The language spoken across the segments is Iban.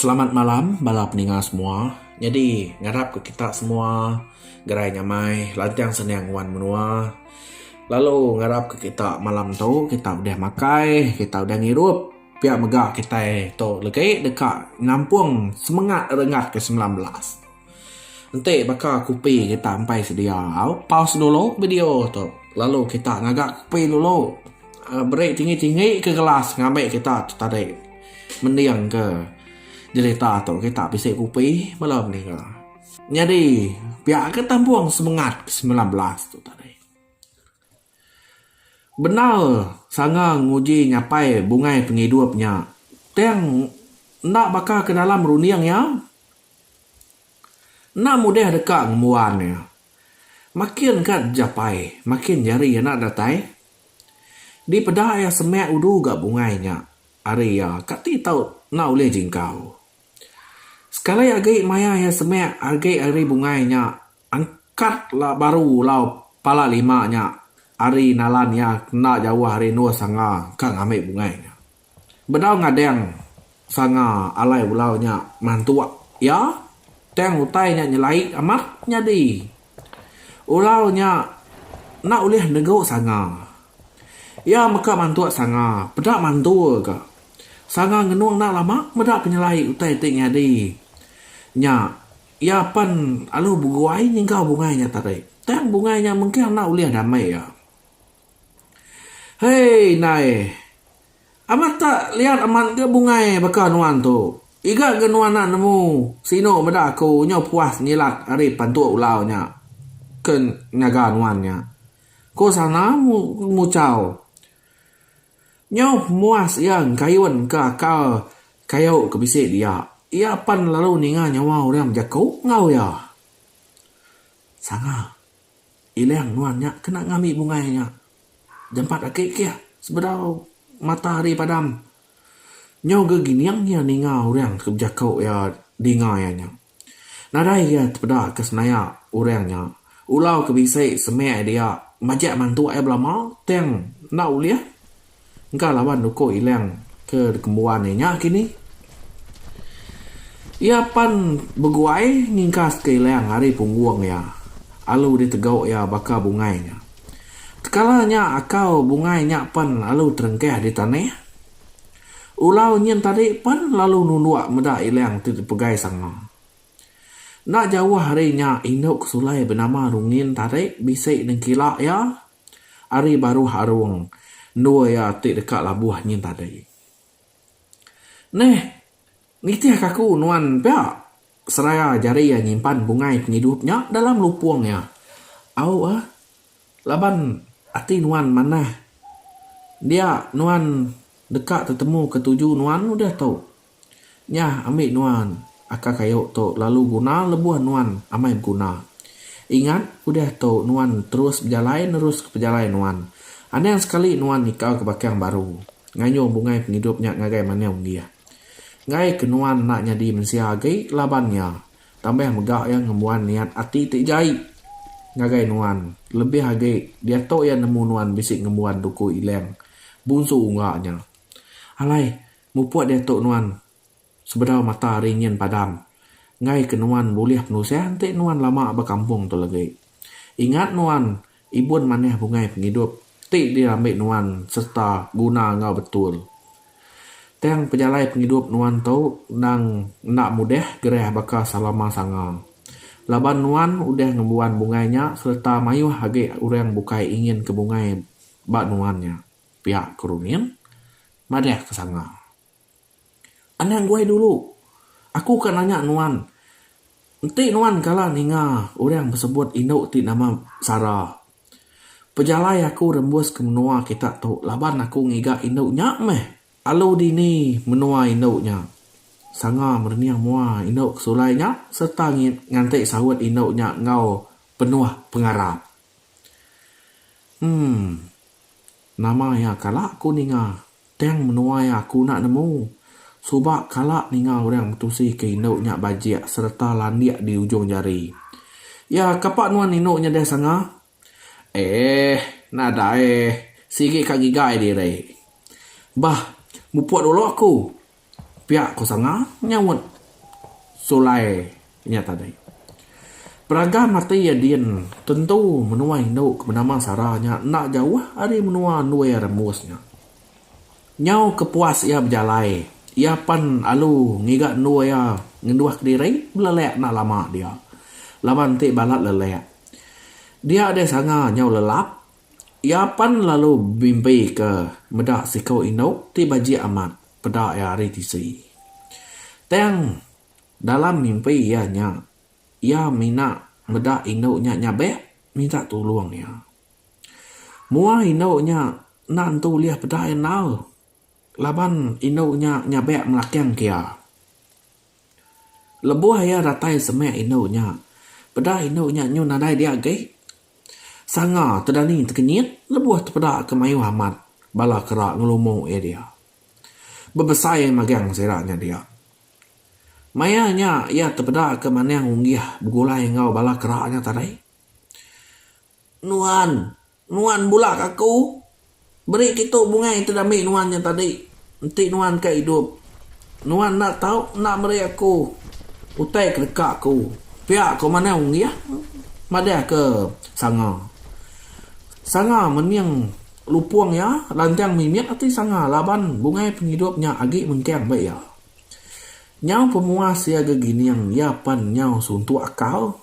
Selamat malam bala peninga semua. Nyadi ngarap ku kita semua gerai nya mai lanchang seniang nguan menua. Lalu ngarap ku kita malam tu kita udah makai, kita udah ngirup pia mega kitai tu legi deka nampung semengat renggat ke semilan belas. Enti baka kopi kita empai sedia, pause dulu video tu lalu kita ngaga kopi dulu. Beri tinggi-tinggi ke gelas ngambi kita tu tadi mending ke jerita tu kita bisi kopi bala mengira. Nyadi pia ke tampung semengat ke semilan belas tu tadi. Bendar sanga nguji nyapai bungai pengidup nya tang enda baka ke dalam runding iya enda mudih deka ngembuan iya. Makin ka dijapai makin jari iya enda datai. Dipeda iya semek udu ga bungai nya ari iya ka ti tau enda ulih jingkau. Sekali agi maya iya semek agi ari bungai nya. Angkat la baru ulau pala lima nya ari nalan iya kenda jauh ari endur sanga ka ngambi bungai nya. Bedau ngading sanga alai ulau nya mantuk iya tang utai nya nyelai amat nyadi ulau nya enda ulih negu sanga. Iya mega mantuk sanga peda mantul ka. Sanga ngenung enda lama meda penyelai utai ti nyadi nya. Iya pan alu beguai nyengkau bungai nya tadi. Tang bungai nya mengkang enda ulih damai iya. Hei indai. Amat tak liat amat ga bungai baka nuan tu. Iga ga nuan enda nemu sinu meda aku nyau puas nyilat ari pantu ulau nya ke nyaga nuan nya. Ku Sana muchau. Nyauh muas iya engkayun ke akal kayu ke bisi dia. Iya pan lalu ninga nyawa orang bejaku enggau iya. Sanga ilang nuan nya kena ngambi bungai nya. Jampat agi kih sebedau mata hari padam nyau gegining iya ninga orang ke bejaku iya dinga iya nya. Nadai iya tepeda ke senaya orang nya ulau ke bisi semek dia majak mantuk iya belama tang enda ulih engka laban uko ilang ke dikembuan iya nya kini. Iya pan beguai ngingkas ke ilang ari punggung iya alu ditegu iya baka bungai nya. Tekala nya akau bungai nya pan alu terengkah di tanah. Ulau nyin tadi pen lalu nunduk meda ilang ti dipegai Sanga. Enda jauh ari nya indu ke sulai benama Rungin tadi bisi nengkila iya ari baruh arung endur iya ti deka labuh nyin tadi. Neh, Nitihka aku nuan pia seraya jari iya nyimpan bungai pengidup nya dalam lupung iya. Au ah, laban ati nuan manah dia nuan deka tetemuka tuju nuan udah tu. Nya ambi nuan aka kayu tu lalu guna lebuh nuan amai beguna. Ingat udah tu nuan terus bejalai neruska pejalai nuan. Anang sekali nuan nyekal ke bakang baru ngayuh bungai pengidup nya ngagai manau nggih. Enggai ke nuan enda nyadi mensia agi laban iya, tambah mega iya ngembuan niat ati ti jai ngagai nuan, lebih agi diatu iya nemu nuan bisi ngembuan duku Ilang, Bunsu Ungga nya. Alai, mupuk diatu nuan sebedau mata ari nyin padam, enggai ke nuan bulih penusah enti nuan lama ba kampung tu lagi. Ingat nuan Ibun manah bungai pengidup ti dirambi nuan sereta guna enggau betul. Tang pejalai pengidup nuan tu endang enda mudah gerah baka selama sanga. Laban nuan udah ngembuan bungai nya sereta mayuh agi orang bukai inginka bungai ba nuan nya, pia Keruning madahka sanga. Anang guai dulu. Aku ka nanya nuan. Enti nuan kala ninga orang besebut indu ti nama Sara. Pejalai aku rembus ke menua kita tu laban aku ngiga indu nya meh. Alu dini menua indu nya. Sanga merening mua indu ke sulai nya sereta nganti saut indu nya enggau penuh pengarap. Umm. Nama iya kala aku ninga. Tang menuai aku enda nemu. Suba kala ninga orang betusi ke indu nya bajik sereta landik di ujung jari. Ya, kapa nuan indu nyedai sanga? Eh, nadai. Sigi ka gigai diri. Bah, mupuk dulu aku. pia ko Sanga nyaut sulai inya tadi. Peraga mati iya din tentu menua indu ke benama Sara nya enda jauh ari menua Ndui Rembus nya. Nyau ke puas iya bejalai, iya pan alu ngiga endur iya ngenduh kediri belelek enda lama dia. Laban ti balat lelek. Dia deh Sanga nyau lelap Iya pan lalu bimbi ke meda siku indu ti bajik amat peda iya ari tisi. Tang dalam mimpi iya nya, iya mina meda indu nya nyabek minta tulung iya. Mua indu nya enda nentu ulih peda iya enggau. Laban indu nya nyabek melakang kia. Lebuh iya datai semek indu nya, peda indu nya nyun nadai dia agi. Sanga Tedani tekenyit lebuh tepeda ke mayuh amat bala kera ngelumu iya dia. Bebesai magang sida nya dia. Maya nya iya tepeda ke Manang Unggih begulai enggau bala kera nya tadi. Nuan! Nuan bulak aku, beri kitu bungai ti diambi nuan nya tadi, enti nuan ka idup. Nuan enda tau enda meri aku utai ke deka aku pia ko manah unggih madah ke sanga. Sanga menying lupung iya lantang mimit ati sanga laban bungai pengidup nya agi mengkang ba iya. Nyau pemuas iya gegining iya pan nyau suntuk akal.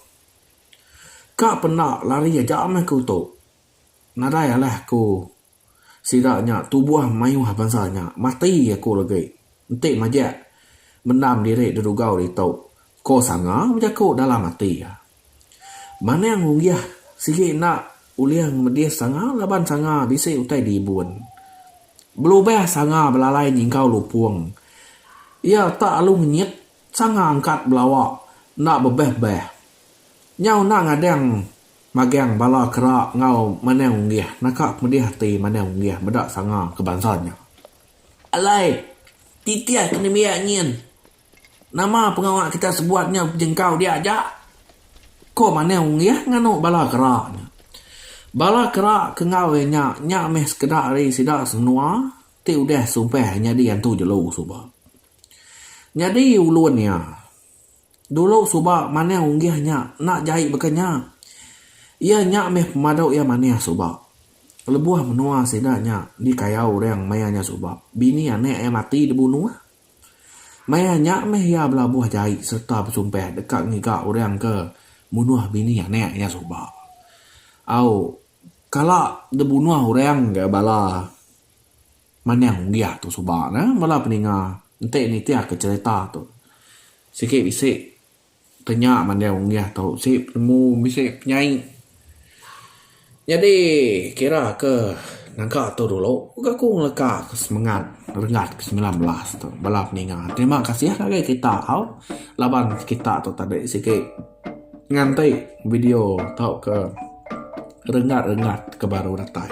Ka penda lari aja meh ku tu. Nadai alah ku sida nya tubuh mayuh bansa nya. Mati aku legi enti majak mendam diri dedugau ditu, ko Sanga bejaku dalam ati iya. Manang Unggih sigi enda ulih ngemedis Sanga laban Sanga bisi utai dibun. Belubah Sanga belalai nyingkau lupung iya tak alu ngenyit Sanga angkat belawa enda bebeh-beh. Nyau enda ngadang magang bala kera enggau Manang Unggih naka kemedih ati Manang Unggih meda sanga ke bansa nya. Alai, titih ke nembiak nyin. Nama pengawa kita sebuat nyau bejengkau dia aja? ko Manang Unggih nganu bala kera nya. Bala kera ke enggau iya nya, nya meh sekeda ari sida semenoa ti udah sumpah nyadi antu jelu suba. Nyadi ulun iya. Dulu suba manah unggih nya enda jai baka nya. Iya nya meh pemadu iya manah suba. Lebuh menua sida nya dikayau orang maya nya suba, bini anak iya mati dibunuh. Maya nya meh iya belabuh jai sereta besumpah deka ngiga orang ke munuh bini anak iya suba. Au, kala dibunuh orang ga bala. Manah unggah tu suba ne bala peninga enti nitihka cherita tu. Sigi bisi tenya manah unggah tu bisi penemu bisi penyai. Nyadi kira ke naga tu dulu ke aku ngeleka ke semengat Renggat ke semilan belas tu bala peninga. Terima kasih ngagai kita tau laban kita tu tadi sigi nganti video tauka renggat-renggat ke baru datai.